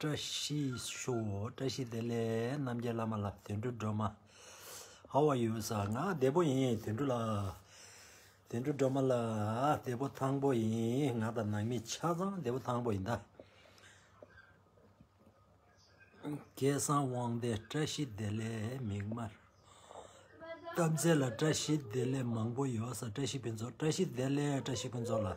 བཀྲ་ཤིས་ཤོག་བཀྲ་ཤིས་བདེ་ལེགས་རྣམ་རྒྱལ་བླ་མ་ལ་དུད་འགྲོ་སྒྲོལ་མ How are you sir ང་བདེ་པོ་ཡིན་དུད་འགྲོ་ལགས་དུད་འགྲོ་སྒྲོལ་མ་ལགས་བདེ་པོ་ཐང་པོ་ཡིན་ང་དང་ནང་མི་ཆ་ཚང་བདེ་པོ་ཐང་པོ་ཡིན་ད། སྐལ་བཟང་དབང་བདེ་བཀྲ་ཤིས་བདེ་ལེགས་མིག་དམར་དཀར་མཛེས་ལ་བཀྲ་ཤིས་བདེ་ལེགས་མང་པོ་ཡོད་ས་བཀྲ་ཤིས་ཕུན་ཚོགས་བཀྲ་ཤིས་བདེ་ལེགས་བཀྲ་ཤིས་ཕུན་ཚོགས་ལ།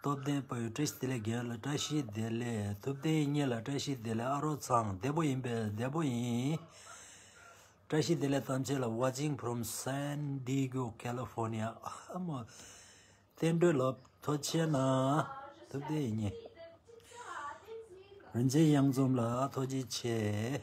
སྟོབས་ལྡན་པོས་བཀྲ་ཤིས་བདེ་ལེགས་རྒྱལ་ལ་བཀྲ་ཤིས་བདེ་ལེགས་ཐུབ་བསྟན་གཉིས་ལ་བཀྲ་ཤིས་བདེ་ལེགས་ཨ་རོགས་ཚང་བདེ་པོ་ཡིན་པས་བདེ་པོ་ཡིན། བཀྲ་ཤིས་བདེ་ལེགས་ཐམས་ཅད་ལ watching from San Diego California ཨ་མ་བསྟན་འགྲོའི་ལོ་ཐོ་ཆེ་ན་ཐུབ་བསྟན་གཉིས། རིན་ཆེན་གཡང་འཛོམས་ལ་ཐོ་རྗེ་ཆེ།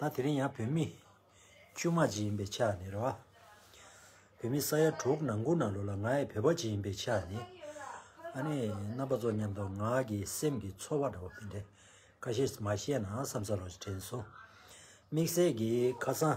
ད་དེ་རིང་ཡང་བོད་མི། ཆུ་དམག་ཅིག་ཡིན་པའི་ཆ་ནས་རེད། བོད་མི་ས་ཡ་དྲུག་ནང་ཁུལ་ནང་ལོགས་ལ་ང་ཡི་བོད་པ་ཅིག་ཡིན་པའི་ཆ་ནས། ཨ་ནེ། རྣམ་པ་ཚོ་མཉམ་དུ་ང་གི་སེམས་ཀྱི་ཚོར་བ་འདྲ་བོ་དེ་འདྲ། ཁ་ཤས་མ་བཤད་ན་བསམ་ས་ལོགས་ཞིག་དྲན་སོང། དམིགས་བསལ་གྱིས་ཁ་སང།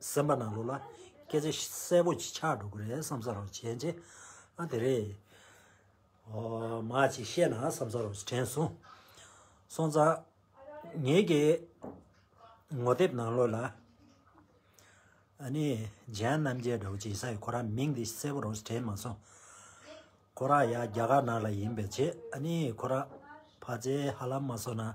སེམས་པ་ནང་ལུགས་ལ་སྐད་ཆ་གསལ་པོ་ཆགས་འགྲོ་གི་རེད་བསམ་ས་རོགས་བྱས་རྗེས་ཨ་དེ་རེད། ཨོ་མ་ཅིག་བཤད་ན་བསམ་ས་རོགས་དྲན་སོང། སོང་ཙ། ངེད་ཀྱི་ངོ་དེབ་ནང་ལོགས་ལ། ཨ་ནི་ལྗན་རྣམ་རྒྱལ་དྲ་བ་ཅིག་ས་ཡི་ཁོ་རང་མིང་འདི་གསལ་པོ་རོགས་དྲན་མ་སོང། ཁོ་རང་ཡང་རྒྱ་གར་ནང་ལ་ཡིན་པའི་ཆེད་ཨ་ནི་ཁོ་རང་ཕ་ཚའི་ཧ་ལམ་མ་སོང་ན།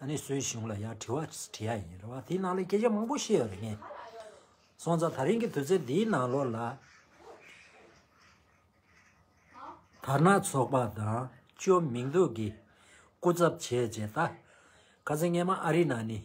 ཨ་ནི་སུའི་གཞུང་ལ་ཡང་དྲི་བ་དྲིས་ཡ་ཡིན་རེད་བ་དེའི་ནང་ལ་སྐད་ཆ་མང་པོ་བཤད་ཡོད་རེད་ངས་སོང་ཙང་ད་རིང་གི་དུས་ཚོད་འདིའི་ནང་ལོགས་ལ། དར་ནག་ཚོགས་པ་དང་ཅོ་མིང་འདུག་གི་སྐུ་ཚབ་བྱས་རྗེས་ད། ཁ་ཟས་ངས་མ་ཨ་རི་ནང་ནས།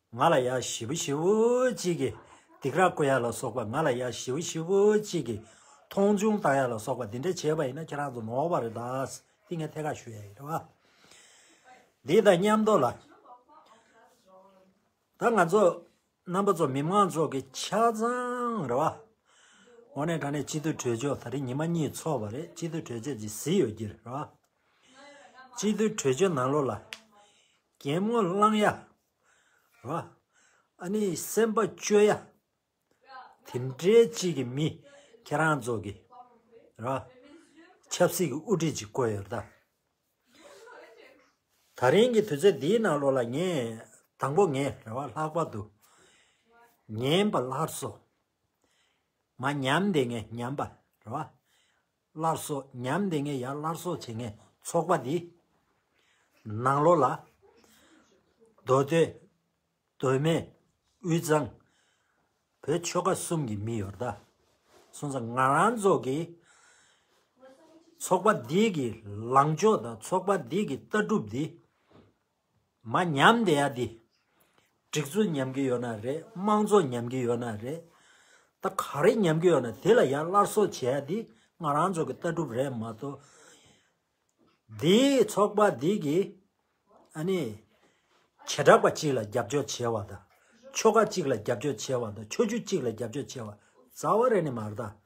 ང་ལ་ཡ་བཞི་བོ་བཞི་བོ་གཅིག་གིས་སྡིག་ར་བསྐུལ་ཡ་ལ་སོགས་པ་ང་ལ་ཡ་བཞི་བོ་བཞི་བོ་གཅིག་གིས་མཐོང་ཆུང་བཏང་ཡ་ལ་སོགས་པ་འདི་འདྲ་བྱས་པ་ཡིན་ན་ཁྱེད་རང་ཚོ་ནོར་བ་རེད་ད། འདི་ངས་ཐད་ཀར་ཞུ་ཡ་ཡིན་རེད་བ། འདི་དང་མཉམ་དུ་ལ། ད་ང་ཚོ་རྣམ་པ་ཚོ་མི་མང་ཚོགས་ཀྱི་ཆ་ཚང་རེད་བ། འོ་ནས་ད་ནས་སྤྱི་འཐུས་གྲོས་ཆོད་ད་རེས་ཉི་མ་གཉིས་ཚོགས་པ་རེད་སྤྱི་འཐུས་གྲོས་ཆོད་ཅིག་བཟི་ཡོད་ཀྱི་རེད་བ། སྤྱི་འཐུས་གྲོས་ཆོད་ནང་ལོགས་ལ། རྒན་མོ་གླང་ཡག་ཨཱ་ནི་སེམས་དཔའ་སྤྱོད་ཡ། དེ་འདྲའི་གཅིག་གི་མི། ཁྱེད་རང་ཚོ་གི། ཆབ་སྲིད་ཀྱི་དབུ་ཁྲིད་ཅིག་བསྐོས་ཡོད་དཱ། ད་རིང་གི་དུས་ཚོད་འདིའི་ནང་ལོ་ལ་ངས་དང་པོ་ངས་རེ་བ་ལྷག་པར་དུ། ཉན་པ་ལྷར་སོ། མ་ཉམས་དེ་ངས་ཉམས་པ་རེ་བ། སླར་གསོ་ཉམས་ལྡན་ངེས་ཡ་སླར་གསོ་བྱེད་མཁན་ཚོགས་པ་འདིས། ནང་ལོགས་ལ། རྡོ་སྟོད། རྡོ་སྨད། དབུས་གཙང། བོད་ཆོལ་ཁ་གསུམ་གྱི་མི་ཡོད། སོང་ཙང་ང་རང་ཚོ་གི། ཚོགས་པ་འདི་གི་ལངས་ཕྱོགས་དང་ཚོགས་པ་འདི་གི་ལྟ་གྲུབ་འདི། མ་ཉམས་དེ་ཡ་འདི། སྒྲིག་འཛུགས་ཉམས་ཀྱི་ཡོད་ན་རེད་དམངས་གཙོ་ཉམས་ཀྱི་ཡོད་ན་རེད། ད་ག་རེ་ཉམས་ཀྱི་ཡོད་ན་དེ་ལ་ཡ་སླར་གསོ་བྱེད་ཡ་འདི་ང་རང་ཚོ་གི་ལྟ་གྲུབ་རེད་མ་གཏོགས། འདིའི་ཚོགས་པ་འདི་གི་ཨ་ནི། བྱེ་བྲག་པ་གཅིག་ལ་རྒྱབ་སྐྱོར་བྱེད་བ་དང། ཆོལ་ཁ་གཅིག་ལ་རྒྱབ་སྐྱོར་བྱེད་བ་དང་ཆོས་བརྒྱུད་གཅིག་ལ་རྒྱབ་སྐྱོར་བྱེད་བ་རྩ་བ་རེ་ནི་མ་རེད་ད།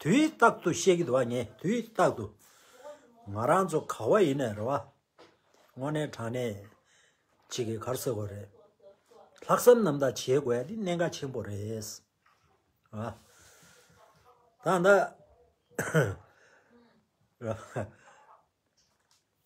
དུས་རྟག་ཏུ་ཤེས་ཀྱི་འདུག་བ་ངས་དུས་རྟག་ཏུ། ང་རང་ཚོ་ག་བ་ཡིན་ནས་རེད་བ། དངོས་གནས་དྲང་གནས་གཅིག་གི་གར་སོས་དགོས་རེད། ལྷག་བསམ་རྣམ་དག་བྱེད་དགོས་འདི་གནད་འགག་ཆེན་པོ་རེད། ད་ནི།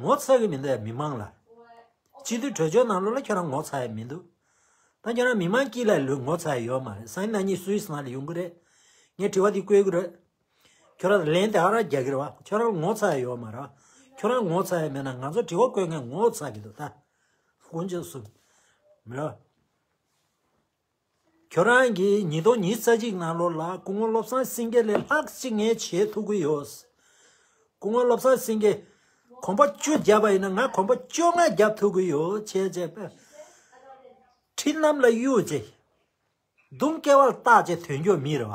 ངོ་ཚ་གི་མི་འདུག་མི་མང་ལ། སྤྱི་འཐུས་གྲོས་ཆོད་ནང་ལོགས་ལ་ཁྱོད་རང་ངོ་ཚ་ཡི་མི་འདུག། ད་ཁྱོད་རང་མི་མང་སྐྱིད་ལ་ལོས་ངོ་ཚ་ཡི་ཡོད་མ་རེད་སང་ཉིན་ང་གཉིས་སུའི་སང་ལ་ཡོང་གི་རེད། ངས་དྲི་བ་འདི་བཀོད་གི་རེད། ཁྱོད་རང་ལན་དེ་ཨ་རག་རྒྱག་གི་རེད་བ་ཁྱོད་རང་ངོ་ཚ་ཡི་ཡོད་མ་རེད། ཁྱོད་རང་ངོ་ཚ་ཡི་མེད་ན་ང་ཚོ་དྲི་བ་བཀོད་མཁན་ངོ་ཚ་གི་འདུག་ད། ཀུན་མཁྱེན་གསུམ། མི་རབས། ཁྱོད་རང་གིས་ཉིས་སྟོང་ཉིས་རྩ་གཅིག་ནང་ལོར་ལ་སྐུ་ངོ་བློ་བཟང་སེང་གེ་ལས་ལྷག་གཅིག་ངས་བྱེད་ཐུབ་ཀྱི་ཡོད། སྐུ་ངོ་བློ་བཟང་སེང་གེས་གོམ་པ་བཅུ་བརྒྱབ་པ་ཡིན་ན་ང་གོམ་པ་བཅོ་ལྔ་བརྒྱབ་ཐུབ་ཀྱི་ཡོད་བྱས་རྗེས་དཔེར་ན། འཕྲིན་ལམ་ལ་གཡུག་རྗེས། དུང་སྐལ་བར་བཏགས་རྗེས་དོན་འཁྱོལ་མི་རེ་བ།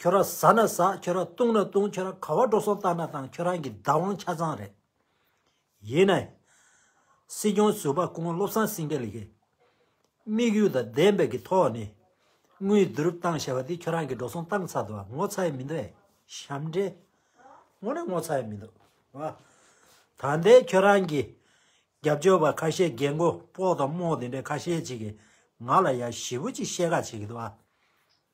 ཁྱོད་རང་ཟ་ན་ཟ་ཁྱོད་རང་བཏུང་ན་བཏུང་ཁྱོད་རང་ག་བ་འགྲོ་སོང་བཏང་ན་བཏང་ཁྱོད་རང་གི་བདག་དབང་ཆ་ཚང་རེད། ཡིན་ནའི། སྲིད་སྐྱོང་ཟུར་པ་ཀུན་བློ་བཟང་སེང་གེ་ལགས། དམིགས་ཡུལ་དང་བདེན་དཔང་གི་ཐོག་ནས། དངུལ་བསྡུ་རུབ་བཏང་བྱས་པ་དེ་ཁྱོད་རང་གི་འགྲོ་སོང་བཏང་ཚར་འདུག་ངོ་ཚ་ཡི་མི་འདུག་ཨེ། ཞབས་འདྲེན། དངོས་ནས་ངོ་ཚ་ཡི་མི་འདུག་བ། ད་ལྟའི་ཁྱོད་རང་གི། རྒྱབ་སྐྱོར་བ་ཁ་ཤས་རྒན་མགོ་སྤོག་དང་རྨོག་དེ་འདྲས་ཁ་ཤས་ཅིག་གིས་ང་ལ་ཡ་ཞི་བོ་ཅིག་བཤད་ཁ་བྱེད་ཀྱི་འདུག་བ།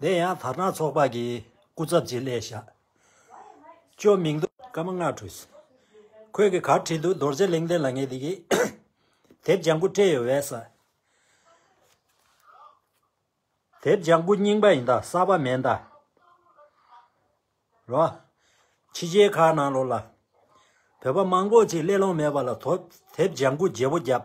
དེ་ཡང་དར་ནག་ཚོགས་པ་གི་སྐུ་ཚབ་ཅིག་སླེ་ཤཱཀྱ་མིང་འདུག་བཀའ་མ་སྔགས་ཁྲུས། ཁོས་གི་གར་བྲིས་འདུག་རྡོར་རྗེ་གླིང་རྟེན་ལ་ངས་དེ་གི་དེབ་ལྗང་ཁུ་སྤྲད་ཡོད་བས་ས། དེབ་ལྗང་ཁུ་རྙིང་པ་ཡིན་ད་གསར་པ་མེད་ད། རོ། ཕྱི་རྗེའི་ཁ་ནང་ལོག་ལ། བོད་པ་མང་པོ་ཅིག་སླེ་ལོང་མེད་པ་ལ་དོ་དེབ་ལྗང་ཁུ་བརྗེ་བོ་རྒྱབ།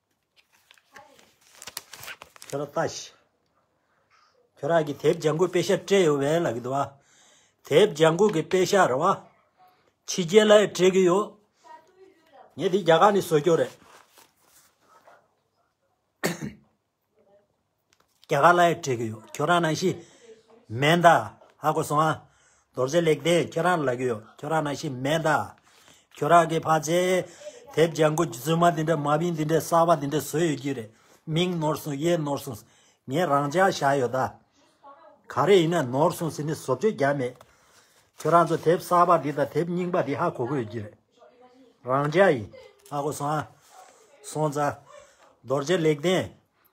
ཁྱོད་རང་ལྟ་ཞིག། ཁྱོད་རང་གི་དེབ་ལྗང་གུ་དཔེ་ཤར་སྤྲད་ཡོད་བས་ལགས་འདུག་བ། དེབ་ལྗང་གུ་གི་དཔེ་ཤར་བ། ཕྱི་རྒྱལ་ལ་ཡང་སྤྲད་གི་ཡོད། ངས་འདི་རྒྱ་གར་ནས་བཟོ་རྒྱུ་རེད། རྒྱ་གར་ལ་ཡང་བྲིས་ཀྱི་ཡོད་ཁྱོད་རང་ནང་བཞིན། མེད་མདའ། ཧ་གོ་སོང་ཨ། རྡོ་རྗེ་ལེགས་ལྡན་ཁྱོད་རང་ལ་ལབ་ཀྱི་ཡོད་ཁྱོད་རང་ནང་བཞིན་མེད་མདའ། ཁྱོད་རང་གི་ཕ་ཚེ། དེབ་ལྗང་གུ་རྫུན་མ་འདི་འདྲ་མ་བིན་འདི་འདྲའི་གསར་བ་འདི་འདྲ་བཟོས་ཡོད་ཀྱི་རེད་མིང་ནོར་སོང་ཡས་ནོར་སོང། ངས་རང་འཇགས་བཞག་ཡོད་ད། ག་རེ་ཡིན་ན་ནོར་སོང་ཟིན་ནས་བཟོ་བཅོས་རྒྱག་མེད། ཁྱོད་རང་ཚོ་དེབ་གསར་བ་འདི་དང་དེབ་རྙིང་པ་འདི་ཧ་གོ་གི་ཡོད་ཀྱི་རེད། རང་འཇགས་ཡིན། ཧ་གོ་སོང་ཨ། སོང་ཙ། རྡོ་རྗེ་ལེགས་ལྡན།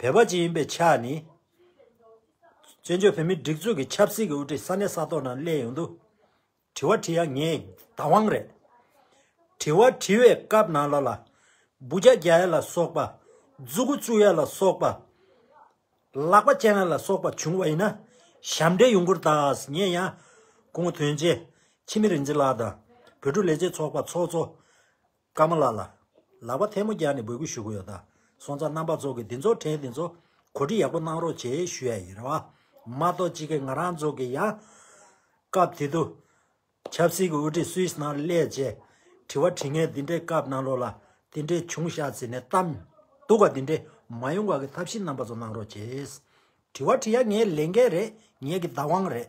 བོད་པ་ཅིག་ཡིན་པའི་ཆ་ནས། བཙན་བྱོལ་བོད་མིའི་སྒྲིག་འཛུགས་ཀྱི་ཆབ་སྲིད་ཀྱི་དབུ་ཁྲིད་ས་གནས་ས་ཐོག་ནང་གླས་ཡོང་དུས། དྲི་བ་དྲིས་ཡ་ངས་བདག་དབང་རེད། དྲི་བ་དྲིས་བའི་སྐབས་ནང་ལ་ལ་སྦུ་བྱ་རྒྱག་ཡ་ལ་སོགས་པ། རྫུ་གུ་བཙུགས་ཡ་ལ་སོགས་པ། ལག་པ་བཅད་ན་ལ་སོགས་པ་བྱུང་བ་ཡིན་ན། ཞབས་འདྲེན་ཡོང་ཁུར་དག་ངས་ཡང། སྐུ་ངོ་དོན་ཆེ་འཆི་མེད་རིན་ཆེན་ལགས་དང། བོད་ཕྲུག་ལས་བྱེད་ཚོགས་པ་ཚོགས་གཙོ། ཀརྨ་ལགས་ལ། ལག་པ་ཐལ་མོ་རྒྱག་ནས་འབོད་སྐུལ་ཞུ་གི་ཡོད་ད། སོང་ཙང་རྣམ་པ་ཚོ་གི་འདི་ཚོ་དྲན་འདི་ཚོ། གོ་སྒྲིག་ཡག་པོ་གནང་རོགས་བྱས་ཞུ་ཡ་ཡིན། མ་གཏོགས་ཅི་གི་ང་རང་ཚོ་གི་ཡང། སྐབས་དེ་དུ། ཆབ་སྲིད་གི་དབུ་ཁྲིད་སུའི་སྣང་སླད་བཅས། དྲི་བ་དྲི་ངན་འདི་འདྲའི་སྐབས་གནང་ལོག་ལ། དེ་འདྲའི་བྱུང་བཞག་ཟེར་ནས་གཏམ། སྡུག་བ་དེ་འདྲའི་མ་ཡོང་བར་གི་ཐབས་ཤེས་རྣམ་པ་ཚོ་གནང་རོགས་བྱས། དྲི་བ་དྲི་ཡ་ངའི་ལས་འགན་རེད་ངས་གི་བདག་དབང་རེད།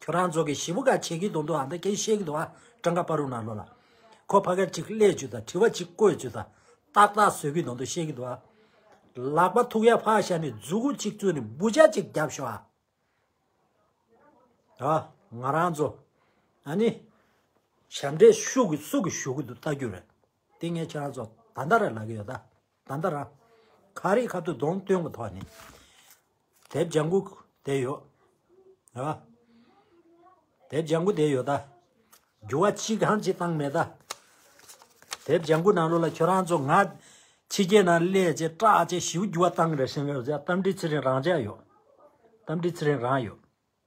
ཁྱོད་རང་ཚོ་གི་ཞི་བུ་ག་བྱེད་གི་འདུག་འདུག་ཨ་མདའ་ཀྱེ་བཤད་གི་འདུག་ཨ་ཀྲང་ཀ་པ་རུ་ན་ལོ་ལ། ཁོ་ཕ་ག་ཅིག་གླས་བཅུ་དང་དྲི་བ་ཅིག་བཀོད་བཅུ་དང་ཏག་ཏག་བཟོད་གི་འདུག་འདུག་བཤད་གི་འདུག་ཨ། ལག་པ་ཐུག་ཡ་ཕ་ཤ་ནི་རྫུ་གུ་ཅིག་བཙུད་ནི་འབུ་ཅག་ཅིག་རྒྱབ་ཤོག་ཨ། ཨ། ང་རང་ཚོ། ཨ་ནི། ཞབས་འདྲེན་ཤུག་གི་སུག་གི་ཞུག་གི་འདུག་ལྟ་རྒྱུ་རེད། དེ་ངས་ཁྱོད་རང་ཚོ་ད་ལྟ་ར་ལ་གི་ཡོད་ད། ད་ལྟ་ར་ཁ་རི་ཁ་ཐུག་གདོང་སྟོན་གྱི་ཐོག་ནས་དེབ་ལྗང་ཁུ་དེ་ཡོད། རེད་པ། དེབ་ལྗང་ཁུ་དེ་ཡོད་ད། འགྱུར་བ་ཅི་གང་ཅི་བཏང་མེད་ད། དེབ་ལྗང་ཁུ་ནང་ལོགས་ལ་ཁྱོད་རང་ཚོ་ང་ཕྱི་རྒྱལ་ནང་སླེ་ཅེས་སྐྲག་ཅེས་ཞིའུ་འགྱུར་བ་བཏང་རེ་ཞིང་རེ་བཞག་གཏམ་འདྲི་ཚེ་རིང་རང་ཅག་ཡོད། གཏམ་འདྲི་ཚེ་རིང་རང་ཡོད།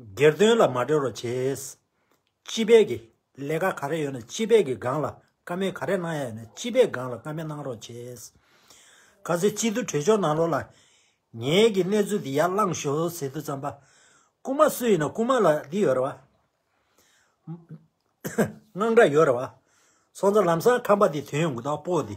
སྒེར་དོན་ལ་མ་སྤྲོད་རོགས་བྱས། སྤྱི་བེད་ཀྱི་ལས་ཀ་ག་རེ་ཡོད་ན་སྤྱི་བེད་ཀྱི་སྒང་ལ་ཀ་མེད་ག་རེ་གནང་ཡ་ཡོད་ན་སྤྱི་བེད་སྒང་ལ་ཀ་མེད་གནང་རོགས་བྱས། ག་ཚོད་སྤྱི་འཐུས་གྲོས་ཆོག་གནང་རོགས་ལ། ངེད་ཀྱི་གནས་ཚུལ་འདི་ཡར་བླངས་ཞོག་ཟེར་དུས་བརྩམས་པ། རྐུ་མ་སུ་ཡིན་ན་རྐུ་མ་ལ་འདི་ཡོད་རེད་བ། དངངས་སྐྲག་ཡོད་རེད་བ། སོང་ཙང་ལམ་སང་ཁམས་པ་འདི་དོན་ཡོང་གི་འདུག་སྤོ་འདི།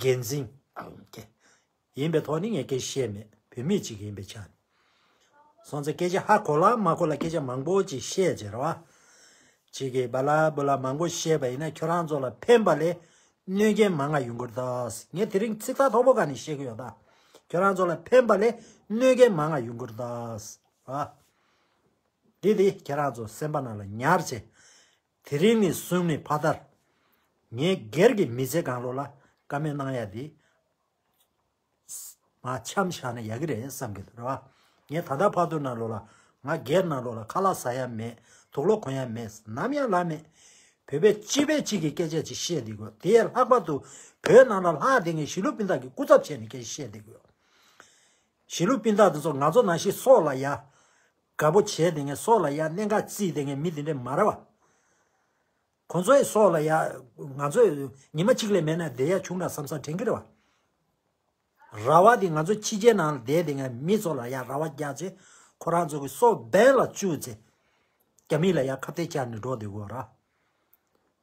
འགན་འཛིན། ཡིན་པའི་ཐོག་ནས་ངས་སྐད་བཤད་མེད་བུད་མེད་ཅིག་ཡིན་པའི་ཆ་ནས། སོང་ཚེ་སྐད་ཆ་ཧ་གོ་ལ་མ་གོ་ལ་སྐད་ཆ་མང་པོ་ཅིག་བཤད་ཅེས་རེ་བ། ཅིག་གིས་བ་ལ་བུ་ལ་མང་པོ་བཤད་པ་ཡིན་ན་ཁྱོད་རང་ཚོ་ལ་ཕན་པ་ལས་གནོད་རྐྱེན་མང་ང་ཡོང་གི་རེད་ངས་དེ་རིང་ཚིག་ཐག་ཐོག་པོ་ག་ནས་བཤད་ཀྱི་ཡོད་ཁྱོད་རང་ཚོ་ལ་ཕན་པ་ལས་གནོད་རྐྱེན་མང་ང་ཡོང་གི་རེད། དེ་དེ་ཁྱེད་རང་ཚོ་སེམས་པ་ན་ལ་ཉར་བྱེད། དེ་རིང་ནི་སོན་མི་ཕ་དར། ངས་སྒེར་གྱི་མི་ཚེ་གང་ལོ་ལ་ཀ་མེད་གནང་ཡ་དེ། ང་འཆམ་བཞག་ན་ཡག་གི་རེད་བསམ་གི་འདུག་རེད་བ། ངས་ད་ལྟ་ཕག་ཐུག་ན་ལོ་ལ་ང་སྒེར་ན་ལོ་ལ་ཁ་ལག་ཟ་ཡ་མེད་དུག་ལོག་གོན་ཡ་མེད་ནམ་ཡང་ལབ་མེད། བོད་པའི་སྤྱི་བེ་གཅིག་གི་སྐད་ཆ་ཅིག་བཤད་དེ་དགོས་དེ་ཡས་ལྷག་པར་དུ་བོད་ནང་ལ་ལྷག་དེ་ངས་ཞི་ལུ་པིན་ཐག་གི་སྐུ་ཚབ་བྱས་ནས་སྐད་ཆ་བཤད་དེ་དགོས། ཞི་ལུ་པིན་ཐག་དེ་ཚོ་ང་ཚོ་ནང་ཤི་སྲོག་ལ་ཡ། དགའ་པོ་བྱས་དེ་ངས་སྲོག་ལ་ཡ་གནས་འགའ་བརྩིས་དེ་ངས་མི་དེ་འདྲས་མ་ར་བ། ཁོང་ཚོའི་སྲོག་ལ་ཡ། ང་ཚོས་ཉི་མ་གཅིག་ལས་མེད་ན་བསྡད་ཡ་བྱུང་འདྲ་བསམ་བསམ་དྲན་གི་ར་བ། ར་བ་དེ་ང་ཚོ་ཕྱི་རྒྱལ་ནང་ལ་བསྡད་དེ་ངས་མི་ཚོ་ལ་ཡ་ར་བ་རྒྱག་ཚེ་ཁོ་རང་ཚོ་གི་སྲོག་འབེན་ལ་བཅུག་ཚེ། རྒྱ་མི་ལ་ཡ་ཁ་བཏད་བཅག་ནས་འགྲོ་བསྡད་དགོས་ར།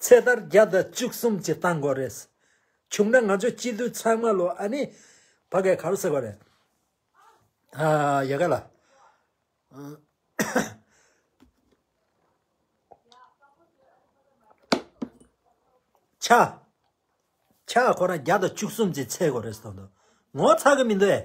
ཚེ་ལྟར་བརྒྱ་དང་བཅུ་གསུམ་གྱི་ལྟ་འགོ་རེད། བྱུང་ན་ང་ཚོ་སྤྱི་འཐུས་ཚང་མ་ལོ་ཨ་ནི། ཕ་གའི་གར་ཟེར་བ་རེད། ཨ། ཡ་ག་ལ། ཆ། ཆ་ཁོ་རང་བརྒྱ་དང་བཅུ་གསུམ་གྱི་ཚེ་གོ་རེད་ཟེར་འདུག་ངོ་ཚ་གི་མི་འདུག་ཨེ།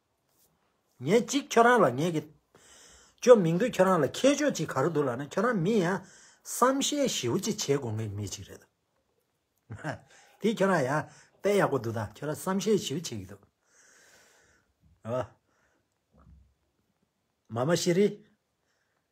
ངས་གཅིག་ཁྱོད་རང་ལ་ངས་ཀྱིས། བཅོ་མིང་དུ་ཁྱོད་རང་ལ་ཁྱད་ཆོས་གཅིག་ག་རེ་འདུག་ལགས་ན་ཁྱོད་རང་མི་ཡང་བསམ་ཤེས་ཞིའུ་གཅིག་བྱེད་དགོས་ངེས་མི་གཅིག་རེད། དེ་ཁྱོད་རང་ཡང་དཔེ་ཡག་པོ་འདུག་ད་ཁྱོད་རང་བསམ་ཤེས་ཞིའུ་བྱེད་ཀྱི་འདུག། མཱ་མ་ཤི་རི།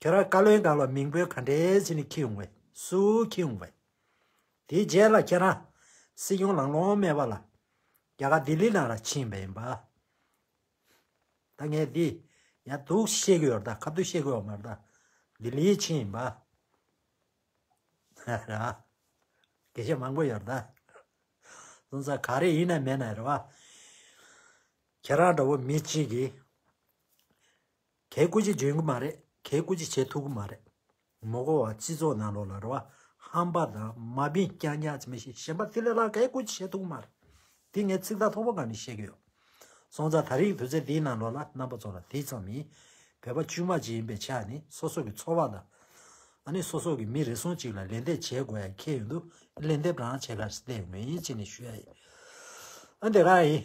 ཁྱོད་རང་བཀའ་བློན་དག་ལ་མིང་འབོད་ག་འདྲའི་ཟིན་ནས་ཁྱི་ཡོང་བས་སུ་ཁྱི་ཡོང་བས། དེའི་རྗེས་ལ་ཁྱེད་རང་སྲིད་སྐྱོང་ལང་ལོང་མེད་པ་ལ་རྒྱ་གར་ལྡི་ལི་ནང་ལ་ཕྱིན་པ་ཡིན་པ། ད་ངས་འདི་ཡང་དུག་བཤད་གི་ཡོད་རད་ཁ་བདུད་བཤད་གི་ཡོད་མ་རེད། ལྡི་ལི་ཕྱིན་ཡིན་པ། རེད་བ། དགེ་བཤེས་མང་པོ་ཡོད་རེད། སོང་ཙང་ག་རེ་ཡིན་ན་མེད་ན་རེད་བ། ཁྱེད་རང་འདྲ་བོ་མི་གཅིག་གིས། གལ་སྐུ་ཅི་བྱེད་གི་མ་རེད་གལ་སྐུ་ཅི་བྱེད་ཐུབ་གི་མ་རེད། མོ་གོ་བ་སྤྱི་ཚོགས་ནང་ལོག་ལ་རེ་བ་ཧམ་པ་དང་མ་བིན་རྐྱང་རྐྱང་ཅི་མི་ཤེས་གཞན་པ་དེ་ལས་ལྷག་གལ་སྐུ་ཅི་བྱེད་ཐུབ་གི་མ་རེད། དེ་ངས་ཚིག་ཐག་ཐོག་པོ་གང་ནས་བཤད་གི་ཡོད། སོང་ཙང་ད་རིག་དུས་ཚེ་འདིའི་ནང་ལོག་ལ་རྣམ་པ་ཚོ་ལ་དེ་ཙམ་མིན། བོད་པ་དཀྱུས་མ་ཅིག་ཡིན་པའི་ཆ་ནི་སོ་སོ་གི་འཚོ་བ་དང། ཨ་ནི་སོ་སོ་གི་མི་རེ་ཟུང་ཅིག་ལ་ལན་འདེབས་བྱེད་དགོས་ཡ་ཁྱེད་ཡོད་འདུག་ལན་འདེབས་རང་བྱེད་ག་རེ་བལྟས་ཡོད་མེད་ཡིན་ཅིག་ནས་ཞུ་ཡ་ཡིན། ཨ་འདི་ག་ཡིན།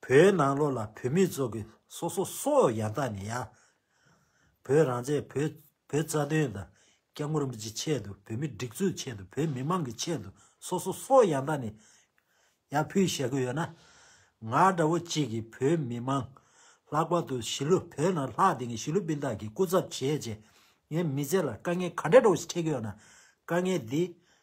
བོད་ནང་ལོགས་ལ་བོད་མི་ཚོ་གི་སོ་སོ་སོ་ཡང་དག་ནས་ཡ། བོད་རང་བཙན་བོད་བོད་རྩ་དོན་དང་སྐྱབས་མགོན་རིན་པོ་ཆེ་ཆེད་དུ་བོད་མི་སྒྲིག་འཛུགས་ཆེད་དུ་བོད་མི་མང་གི་ཆེད་དུ་སོ་སོ་སོ་ཡང་དག་ནས་ཡ་ཕུལ་ཞེ་དགོས་ཡོད་ན། ང་འདྲ་བོ་གཅིག་གིས་བོད་མི་མང་ལྷག་པར་དུ་གཞིས་ལུས་བོད་ནང་ལྷག་དེ་གི་གཞིས་ལུས་སྤུན་ཟླ་གི་སྐུ་ཚབ་བྱས་རྗེས་ངའི་མི་ཚེ་ལ་དཀའ་ངལ་ག་འདྲ་འགྲོ་གི་སི་ཁྲེལ་གི་ཡོད་ན་དཀའ་ངལ་འདི་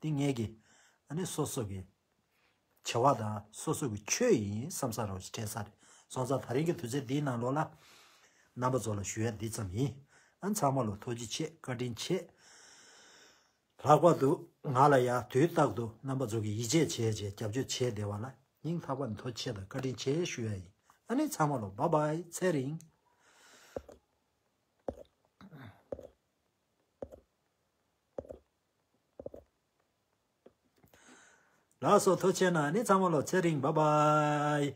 ཏིང་ངེ་འགལ་ནི་སོ་སོ་གི་བྱ་བ་དང་སོ་སོ་གི་ཆོས་ཡིན་བསམ་ས་རོགས་བྲལ་ས་རེད་སོང་ཙང་ད་རིང་གི་དུས་ཚོད་འདིའི་ནང་ལོགས་ལ། རྣམ་པ་ཚོ་ལ་ཞུ་ཡ་འདི་ཙམ་ཡིན། ཚང་མ་ལོ་ཐོ་ཅི་ཆེ་བཀའ་དྲིན་ཆེ། ལྷག་པར་དུ་ང་ལ་ཡང་དུས་རྟག་ཏུ་རྣམ་པ་ཚོ་གི་ཡིད་ཆེས་བྱེད་ཅེས་རྒྱབ་སྐྱོར་བྱེད་བདེ་བ་ལ་སྙིང་ཐག་པ་ནས་ཐོ་ཆེ་དང་བཀའ་དྲིན་ཆེ་ཞུ་ཡ་ཡིན་ཚང་མ་ལོགས་བ་བའི་ཚེ་རིང། ལ་སོགས་མཐོ་ཆེ་ན་ནི་ཚང་མ་ལོ་ཚད་རིང་བ་པ་ཡི།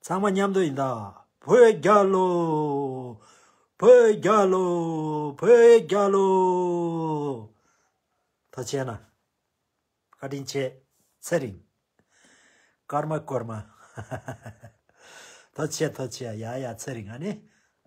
ཚང་མ་མཉམ་དུ་ཡིན་ད་བོད་རྒྱ་ལོ། བོད་རྒྱ་ལོ། བོད་རྒྱ་ལོ། མཐོ་ཆེ་ན། བཀའ་དྲིན་ཆེ། ཚད་རིང། ཀརྨ་ཀོརྨ། མཐོ་ཆེ་མཐོ་ཆེ་ཡ་ཡ་ཚད་རིང་ཨ་ནི།